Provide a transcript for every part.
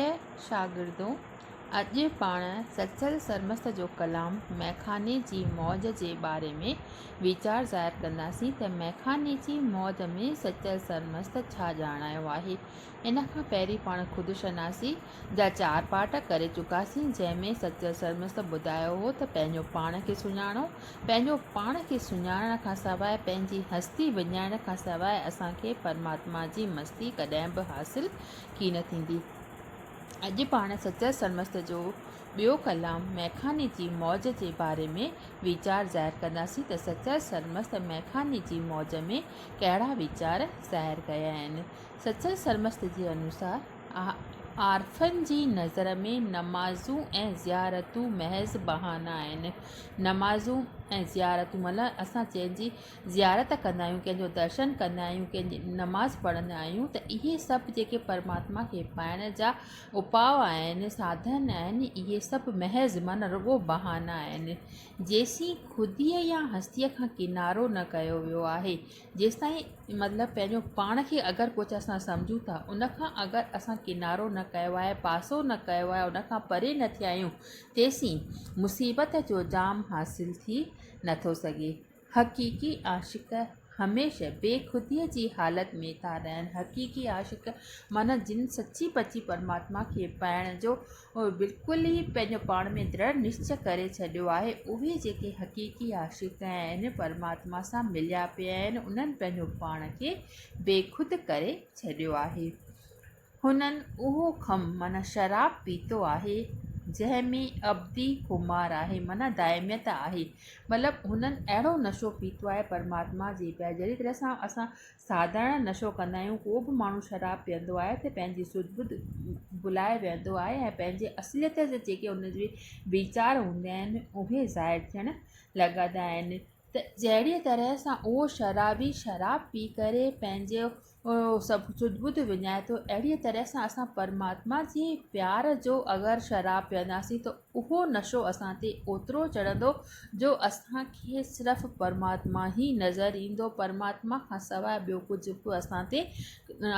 اي شاگردو! اڄ پاڻ سچل سرمست جو ڪلام مئخاني جي موج جي باري ۾ ويچار ظاهر ڪنداسين ته مئخاني جي موج ۾ سچل سرمست ڇا ڄاڻايو آهي. ان کان پهرين پاڻ خود شناسي جا چار پارٽ ڪري چڪاسين جنهن ۾ سچل سرمست ٻڌايو هو ته پنهنجو پاڻ کي سڃاڻو پنهنجو پاڻ کي سڃاڻڻ کان سواء پنهنجي هستي وڃائڻ کان سواء اسان کي پرماتما جي مستي ڪڏهن به حاصل ڪي نه ٿيندي. اڄ پاڻ سچل سرمست جو ٻيو ڪلام مئخاني جي موج جي باري ۾ ويچار ظاهر ڪنداسين ته سچل سرمست مئخاني جي موج ۾ ڪهڙا ويچار ظاهر ڪيا آهن. سچل سرمست جي انوسار، عارفن جي نظر ۾ نمازون ۽ زيارتون محض بهانا آهن. نمازون ۽ زيارتون معنيٰ اسان جنهن جي زيارت ڪندا آهيون ڪنهن جو درشن ڪندا آهيون ڪنهن جي نماز پڙهندا آهيون ته اهي سڀ جيڪي پرماتما کي پائڻ جا اپاء آهن ساڌن آهن اهي سڀ محض معنيٰ رڳو بهانا آهن جيسين خوديء يا هستيء کان ڪنارو نه ڪيو ويو آهي جيستائين مطلب پنهنجو پاڻ کي اگر ڪجهه اسان سمجهون ٿا ان کان اگر اسان ڪنارو نه ڪيو آهي پاسو نه ڪيو آهي ان کان پري نه ٿيا آهيون تيسين مصيبت جو جام حاصل ٿي نٿو سگهي حقيقي عاشق هميشه بي خوديء جي حالت ۾ ٿا رهن. حقيقي عاشق معنيٰ جن سچي پچي پرماتما کي پائڻ جو بلڪل ئي پنهنجو پاڻ ۾ درڙ نشچي ڪري ڇڏيو آهي، اهي جيڪي حقيقي عاشق آهن، پرماتما سان مليا پيا آهن، انهن پنهنجو پاڻ کي بيخود ڪري ڇڏيو آهي. هنن اهو خم معنيٰ شراب پيتو آهي جنهن ۾ ابدي خمار آهي معنيٰ دائميت آهي مطلب هنن اهڙو نشو پيتو آهي پرماتما جي پيار جهڙي طرح سان اسان ساڌارڻ نشو ڪندا آهيون ڪو به ماڻهو شراب پيئندو آهي ته پنهنجي سڌ ٻڌ ڀلائي ويهندو آهي ۽ پنهنجي اصليت جا جيڪي ان جي ويچار هوندا آهن اهي ظاهر ٿيڻ لڳندا آهن ته جهڙي طرح سان اهو شرابي شراب پي ڪري پنهنجو اهو سڀ سڌ ٻڌ وڃائي ٿو اهڙيء طرح سان اسان پرماتما جي پيار جو اگر شراب پيئنداسين ته اهو نشو اسان تي اوترو چڙهندو جو اسان کي صرف پرماتما ئي نظر ايندو پرماتما کان سواء ٻيو ڪجهه به اسان تي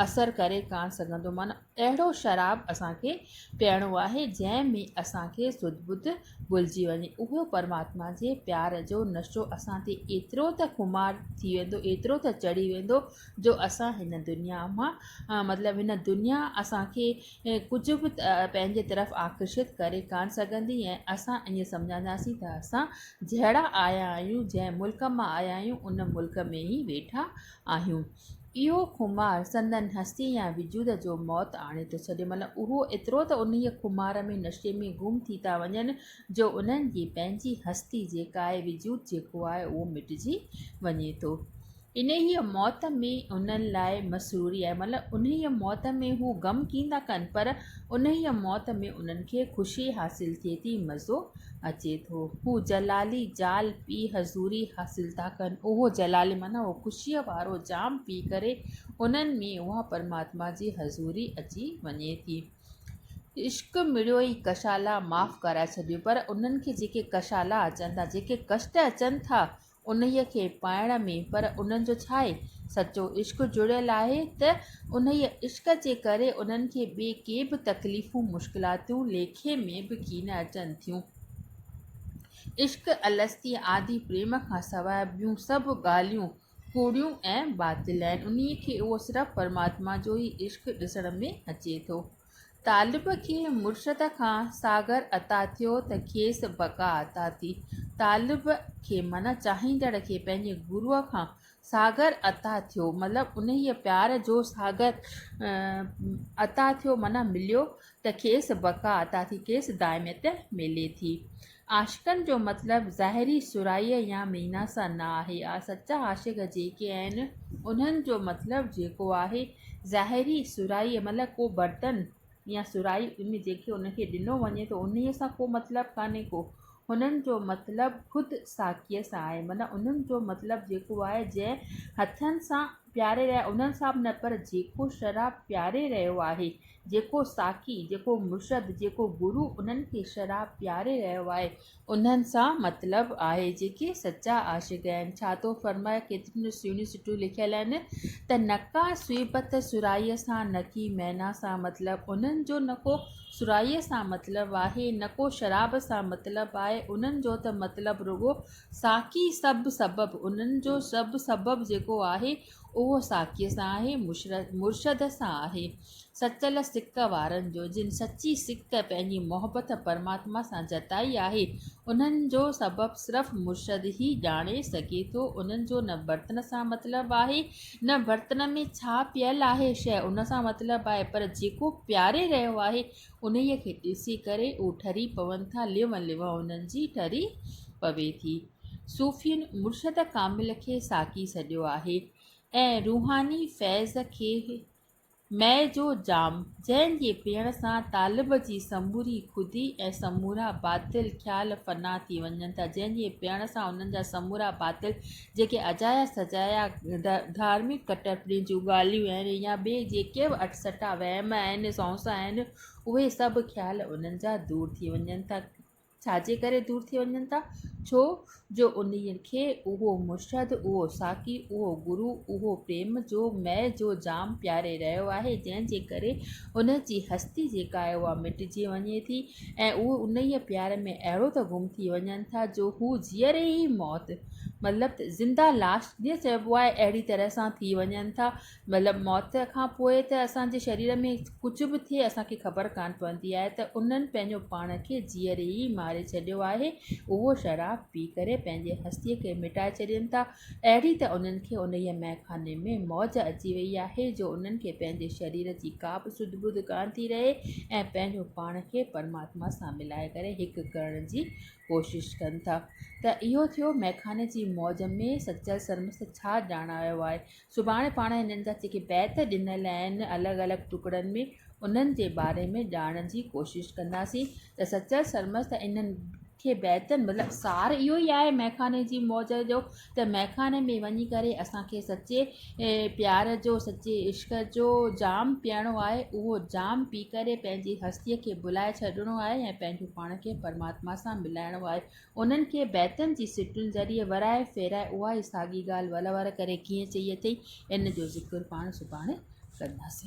اثر ڪري ڪانه سگهندو معنيٰ اهڙو شراب اسان کي پيئڻو آهي جنهن ۾ اسان کي سڌ ٻڌ ڀلجي وڃي. اهو پرماتما جي پيار جو نشو اسان تي ايترو ته خمار ٿي ويندو، ايترو ته چڙهي ويندو جو اسان هن دنيا مان مطلب هن دنيا اسان کي ڪجهه به پنهنجي طرف آڪرشت ڪري ڪانه سگهندي ۽ اسان ائين سمجهنداسين ته اسان جهڙا آيا آهيون، جنهن ملڪ مان آيا آهيون ان ملڪ ۾ ئي ويٺا آهيون. اهو خمار سندن هستي يا وجود جو موت آڻي ٿو ڇڏي، معنيٰ اهو ايترو ته انهيء خمار ۾ نشي ۾ گم ٿي ٿا وڃن جو انهن جي پنهنجي هستي جيڪا آهي، وجود جيڪو آهي، اهو مٽجي وڃي ٿو. انهيء موت ۾ انهن لاء مسروري آهي، معنيٰ انهيء موت ۾ هو غم ڪين ٿا ڪن، پر انهيء موت ۾ انهن کي خوشي حاصل ٿئي ٿي، مزو اچي ٿو. هو جلالي جال پي حضوري حاصل ٿا ڪن. اهو جلالي معنيٰ اهو خوشيء وارو جام پي ڪري انهن ۾ اها پرماتما جي حضوري اچي وڃي ٿي. عشق مڙيو ئي ڪشالا معاف ڪرائي ڇڏيو پر انهن کي جيڪي ڪشالا اچن ٿا، جيڪي ڪشٽ اچن ٿا، انهيء کي پائڻ ۾، پر انهن جو ڇا آهي؟ سچو عشق جڙيل آهي ته انهيء عشق جي ڪري انهن کي ٻي ڪي به تڪليفون، مشڪلاتون ليکي ۾ به ڪين اچن ٿيون. عشق الستي آدي پريم کان سواء ٻيون سڀ ڳالهيون ڪوڙيون ۽ باطل آهن. انهيء کي اهو صرف پرماتما جو ئي عشق ڏسڻ ۾ اچي ٿو. طالب کي مرشد کان ساغر عطا ٿيو ته کيس بقا عطا ٿي. طالب کي معنيٰ چاهيندڙ کي پنهنجي گروء کان ساغر عطا ٿيو مطلب انهيء پيار جو ساغر عطا ٿيو معنيٰ مليو ته کيس بقا عطا ٿي، کيس دائميت ملي ٿي. عاشقن جو مطلب ظاهري سرهائيء يا مينا سان نه آهي. سچا عاشق جيڪي آهن، انهن جو مطلب جيڪو آهي، ظاهري سرهائيء مطلب ڪو برتن يا سرهائي ان جنهن کي ان کي ڏنو وڃي ٿو، انهيء سان ڪو مطلب ڪانهي ڪو. هنن جو مطلب خود ساقيء سان آهي. معنيٰ انهن جو مطلب جيڪو آهي، جنهن هٿن سان پياري رهيا انهن سان به نه پر جيڪو شراب پياري رهيو آهي جيڪو ساقي جيڪو مرشد جيڪو گرو انهن کي شراب پياري رهيو آهي انهن سان مطلب آهي جيڪي سچا عاشق آهن ڇا ٿو فرمائي ڪيتريون نه سهڻيون سٽون لکيل آهن ته نڪا سويبت سرائي سان نڪي مينا سان مطلب انهن جو نڪو سرائي سان مطلب آهي نڪو شراب سان مطلب آهي انهن جو ته مطلب رڳو ساقي سڀ سبب، انهن جو سڀ سبب جيڪو آهي، اهو ساقيء سان آهي، مرشد سان آهي. سچل سڪ وارن جو، جن سچي سڪ پنهنجي محبت پرماتما سان جتائي آهي، انهن جو سبب صرف مرشد ئي ڄاڻي سگهي ٿو. انهن جو نه برتن سان مطلب آهي، نه برتن ۾ ڇا پيل آهي شيء ان سان مطلب آهي، پر جيڪو پياري رهيو آهي، انهيء کي ڏسي ڪري اهي ٺري پون ٿا، ليون ليون انهن جي ٺري پوي ٿي. صوفين مرشد ڪامل کي ساقي سڏيو آهي ۽ روحاني فيض کي مئي جو جام، جنهن جي پيئڻ سان طالب جي سموري خودي ۽ سمورا باطل خيال فنا ٿي وڃن ٿا، جنهن جي پيئڻ سان انهن جا سمورا باطل جيڪي اجايا سجايا ڌارمڪ ڪٽرپڻي جون ڳالهيون آهن يا ٻي جيڪي به اٽسٽا وهم آهن سونس آهن اهي سڀ خيال انهن جا دور ٿي وڃن ٿا ڇا جي ڪري دور ٿي وڃن ٿا ڇو جو انهي کي اهو مرشد اهو ساقي اهو گرو اهو پريم جو مئي جو جام پياري رهيو آهي جنهن جي ڪري ان جي هستي جيڪا آهي اها مٽجي وڃي ٿي ۽ اهي انهيء پيار ۾ اهڙو ته گم ٿي وڃن ٿا جو هو جيئري ئي موت، مطلب ته زنده لاش جيئن چئبو آهي، اهڙي طرح سان ٿي وڃن ٿا. مطلب موت کان پوء ته اسان جي شرير ۾ ڪجهه به ٿئي، اسان کي خبر ڪانه پوندي آهي ته انهن پنهنجو پاڻ کي جيئري ئي ماري ڇڏيو آهي. اهو شراب پي ڪري پنهنجي هستيء کي مٽائي ڇڏين ٿا. اهڙي ته انهن کي انهيء مئي خاني ۾ موج اچي ويئي آهي جو انهن کي پنهنجي شرير جي ڪا به سڌ ٻڌ ڪانه ٿي رهي ۽ پنهنجو پاڻ کي پرماتما سان ملائي ڪري هڪ ڪرڻ جي ڪوشش ڪن ٿا ته اهو ٿيو مئي خاني جي موج ۾ سچل سرمست ڇا ڄاڻايو آهي سڀاڻي پاڻ هنن جا جيڪي بيت ڏنل آهن الڳ الڳ ٽڪڙن ۾ انهن جي باري ۾ ڄاڻڻ جي ڪوشش ڪنداسين ته سچل سرمست انهن کي بهتر مطلب سار اهو ئي آهي مئخاني جي موج جو ته مئخاني ۾ وڃي ڪري اسان کي سچي پيار جو سچي عشق جو جام پيئڻو آهي اهو جام پي ڪري پنهنجي هستي کي ڀلائي ڇڏڻو آهي ۽ پنهنجو پاڻ کي پرماتما سان ملائڻو آهي انهن کي بيتن جي سٽن ذريعي ورائي ڦيرائي اها ئي ساڳي ڳالهه ولور ڪري ڪيئن چئي اٿئي ان جو ذڪر پاڻ سڀاڻي ڪنداسين